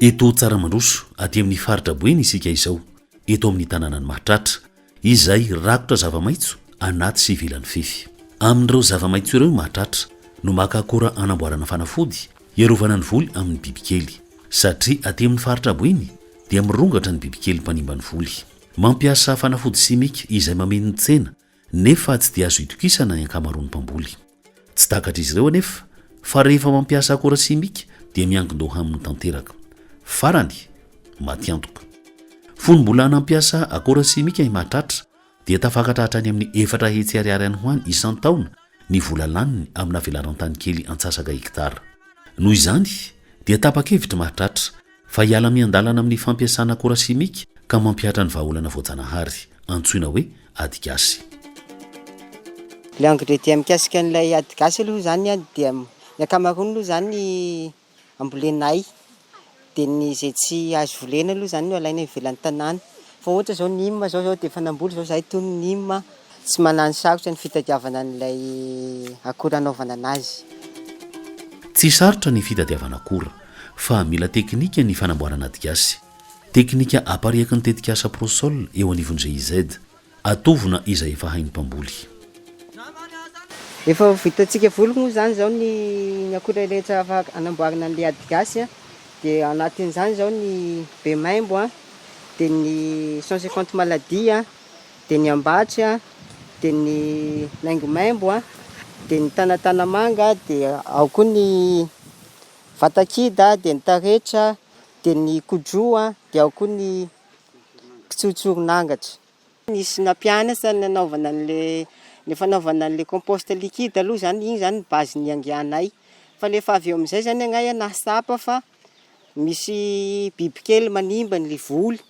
Eto Tsaramandroso, aty amin'ny faritra Boeny isika izao, eto amin'ny tanànan'i Mahatratra, izay rakotra zava-maitso anaty sy ivelan'ny fefy. Amin'ireo zava-maitso ireo i Mahatratra no maka akora anamboarana fanafody hiarovana ny voly amin'ny bibikely, satria aty amin'ny faritra Boeny dia mirongatra ny bibikely mpanimba ny voly. Mampiasa fanafody simika izay mameno ny tsena nefa tsy dia azo itokisana ny ankamaroan'ny mpamboly. Tsy takatr'izy ireo anefa fa rehefa mampiasa akora simika dia miankin-doha aminy tanteraka. Farany, matiantoka. Fony mbola nampiasa akora simika i Mahatratra dia tafakatra hatrany amin'ny efatra hetsy ariary any ho any isan-taona ny vola laniny amina velaran-tany kely antsasaka hektara. Noho izany dia tapa-kevitr'i Mahatratra Fa hiala miandalana amin'ny fampiasana akora simika ka mampihatra ny vahaolana voajanahary, antsoina hoe ady gasy. Ilay engrais dia mikasika an'ilay ady gasy aloha izany an, dia ny ankamaroany aloha izany ambolenay, dia ny izay tsy azo volena aloha izany no alaina ivelan'ny tanàna, Fa ohatra zao ny im zao zao de efa namboly zao zahay tony ny im tsy manano sarotra ny fitadiavana an'ilay akora anaovana anazy. Tsy sarotra ny fitadiavana akora, fa mila teknika ny fanamboarana adigasy. Teknika apariaky ny tetikasa Prosol eo anivon'ny GIZ. Atovona izay efa hain'ny mpamboly. Efa ho vitantsika voly moa izany izao ny ny akora rehetra afaka anamboarana an'ilay adigasy dia anatin'izany izao ny bemaimbo an. dia ny cent cinquante maladies an, dia ny ambatsy an, dia ny maimbomaimbo an, dia ny tanatanamanga an, dia ao koa ny vatakida, dia ny taretra, dia ny kodro an, dia ao koa ny kitsotsoron'angatra. Nisy nampianatra ny nanaovana an'ilay, ny fanaovana an'ilay compost liquide aloha zany, iny zany ny base niangianay, fa rehefa avy eo amizay zany angaha ianao tsapa fa. Misy bibikely manimba ny voly,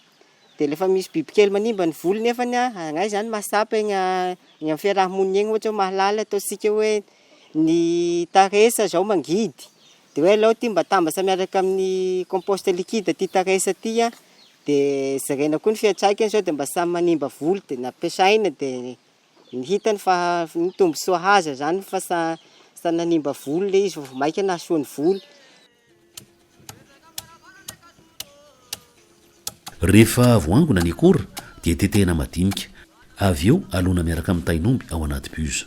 dia rehefa misy bibikely manimba ny voly nefa an, angaha izany mahatsapa eny amin'ny fiaraha-monina eny ohatra hoe mahalala ataontsika hoe ny tares izao mangidy, dia hoe aleo ity mba atambatra miaraka amin'ny compost liquide ity tares ity an, dia jerena koa ny fiantraikany sao dia mba samy manimba voly dia nampiasaina dia. Ny hitany fa ny tombontsoa haza izany fa sa sa nanimba volo le izy fa vao maika nahasoa ny volo. Rehefa voangona ny akora dia tetehina madinika, avy eo alona miaraka amin'ny tain'omby ao anaty buse.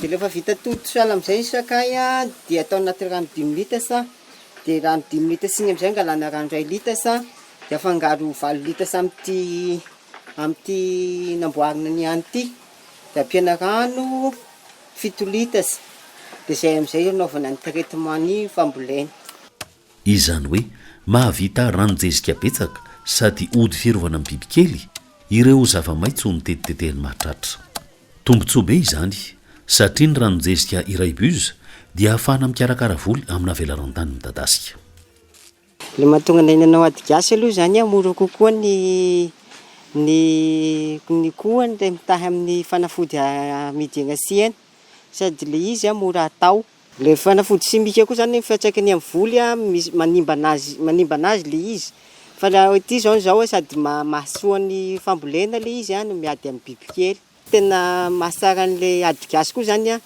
Dia rehefa vita tody sahala amin'izay ny sakay dia atao anaty rano dimy litres, dia rano dimy litres iny amin'izay angalana rano iray litres dia afangaro valo litres amin'ity amin'ity namboarina ny ahy ity, dia ampiana rano fito litres, dia izay amin'izay anaovana ny traitement ny fambolena. Izany hoe mahavita ranon-jezika betsaka sady ody fiarovana ny bibikely ireo zava-maitso notetitetehan'ny mahatratra. Tombontsoa be izany satria ny ranon-jezika iray buse dia ahafahana mikarakara voly amina velaran-tany midadasika. Ilay mahatonga anay nanao ady gasy aloha izany hoe mora kokoa ny ny ny koa ilay mitahy amin'ny fanafody amidy eny an-tsena sady ilay izy mora atao. Ilay fanafody simika koa izany ny fiantraikany amin'ny voly misy manimba an'azy manimba an'azy ilay izy fa raha hoe ity izao izao sady maha mahasoa ny fambolena ilay izy no miady amin'ny bibikely. Tena mahatsara an'ilay ady gasy koa izany an!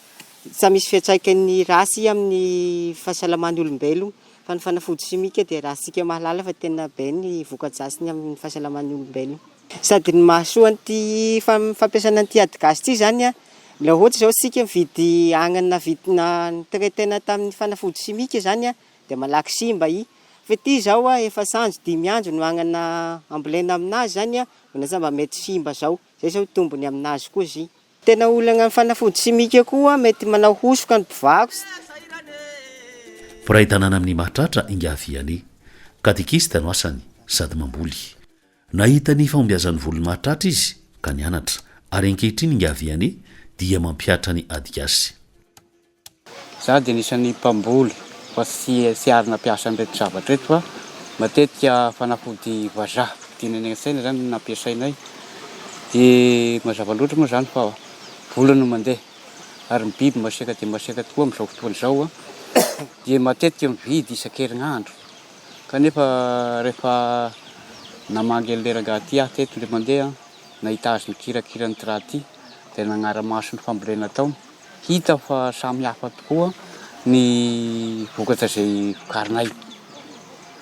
Samy misy fiantraikany ratsy amin'ny fahasalaman'ny olombelona fa ny fanafody simika dia raha isika mahalala fa tena be ny voka-dratsiny amin'ny fahasalaman'ny olombelona. Sady ny mahasoa an'ity fampiasana an'ity ady gasy ity izany an, raha ohatra izao isika mividy agnana navi- ni-traiter-na tamin'ny fanafody simika izany an, dia malaky simba i. Fa ity izao an, efa sahaza dimy andro no agnana ambolena aminazy izany an, dia lasa mba mety simba izao. Izay izao ny tombony aminazy koa izy. Tena olana amin'ny fanafody simika koa mety manao hosoka ny mpivarotra. Mpiray tanàna amin'Imahatratra Ingahy Vianney. Katekista no asany sady mamboly. Nahita ny fahombiazan'ny volony mahatratra izy ka nianatra, ary ankehitriny Ingahy Vianney dia mampihatra ny adigasy. Izaho dia anisan'ny mpamboly fa tsy tsy ary nampiasa an'ireto zavatra ireto fa matetika fanafody vazaha tiana eny an-tsaina izany no nampiasainay. Dia mazava loatra moa izany fa vola no mandeha ary ny biby masiaka dia masiaka tokoa amin'izao fotoana izao dia matetika mividy isan-kerinandro. Kanefa rehefa namangy an'ilay rangahy ity aho teto indray mandeha, nahita azy nikirakira an'ity rà ity, dia nagnara-maso ny fambolena ataony. Hita aho fa samy hafa tokoa ny vokatra izay vokarinay.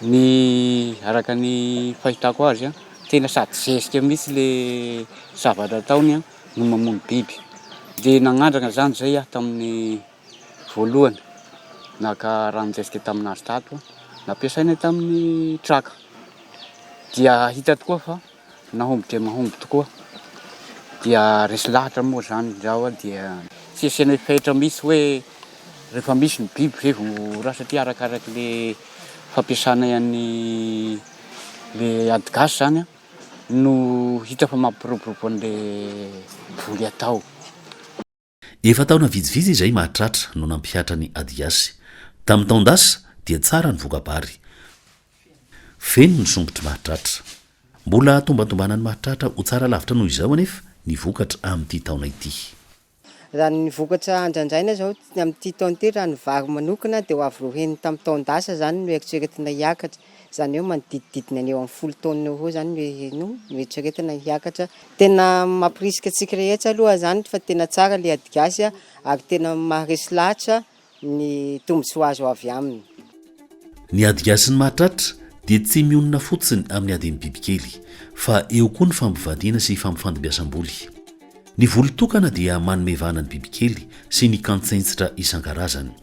Ny araka ny fahitako azy, tena sady zezika mihitsy ilay zavatra ataony no mamono biby. Dia nanandrana izany izay aho tamin'ny. Voalohany, naka ranon-javitra tamin'azy tato aho, nampiasaina tamin'ny traka. Dia hita tokoa fa nahomby dia mahomby tokoa. Dia resy lahatra moa izany izaho dia tsy asiana fetra mihitsy hoe rehefa misy ny biby izay vao ho raha satria arakaraky ilay fampiasana an'i, ilay ady gasy izany no hita fa mampiroborobo an'ilay voly atao. Efa taona vitsivitsy izay mahatratra no nampihatra ny adigasy. Tamin'ny taon-dasa dia tsara ny voka-bary. Feno ny sompitry mahatratra. Mbola tombantombana ny mahatratra ho tsara lavitra noho izao anefa ny vokatra amin'ity taona ity. Raha ny vokatra andrandraina izao amin'ity taona ity raha ny vary manokana dia ho avo roa heny tamin'ny taon-dasa izany no eritreretina hiakatra. Izany hoe manodidididina ny eo amin'ny folo taona eo ho eo izany no noeritreretina hiakatra. Tena mampirisika antsika rehetra aloha izany fa tena tsara ilay ady gasy ary tena maharesy lahatra ny tombontsoa azo avy aminy. Ny ady gasy ny mahatratra dia tsy mionona fotsiny amin'ny adin'ny bibikely fa eo koa ny fampivadiana sy fampifandimbiasam-boly. Ny voly tokana dia manome vahana ny bibikely sy ny kantsentsitra isan-karazany.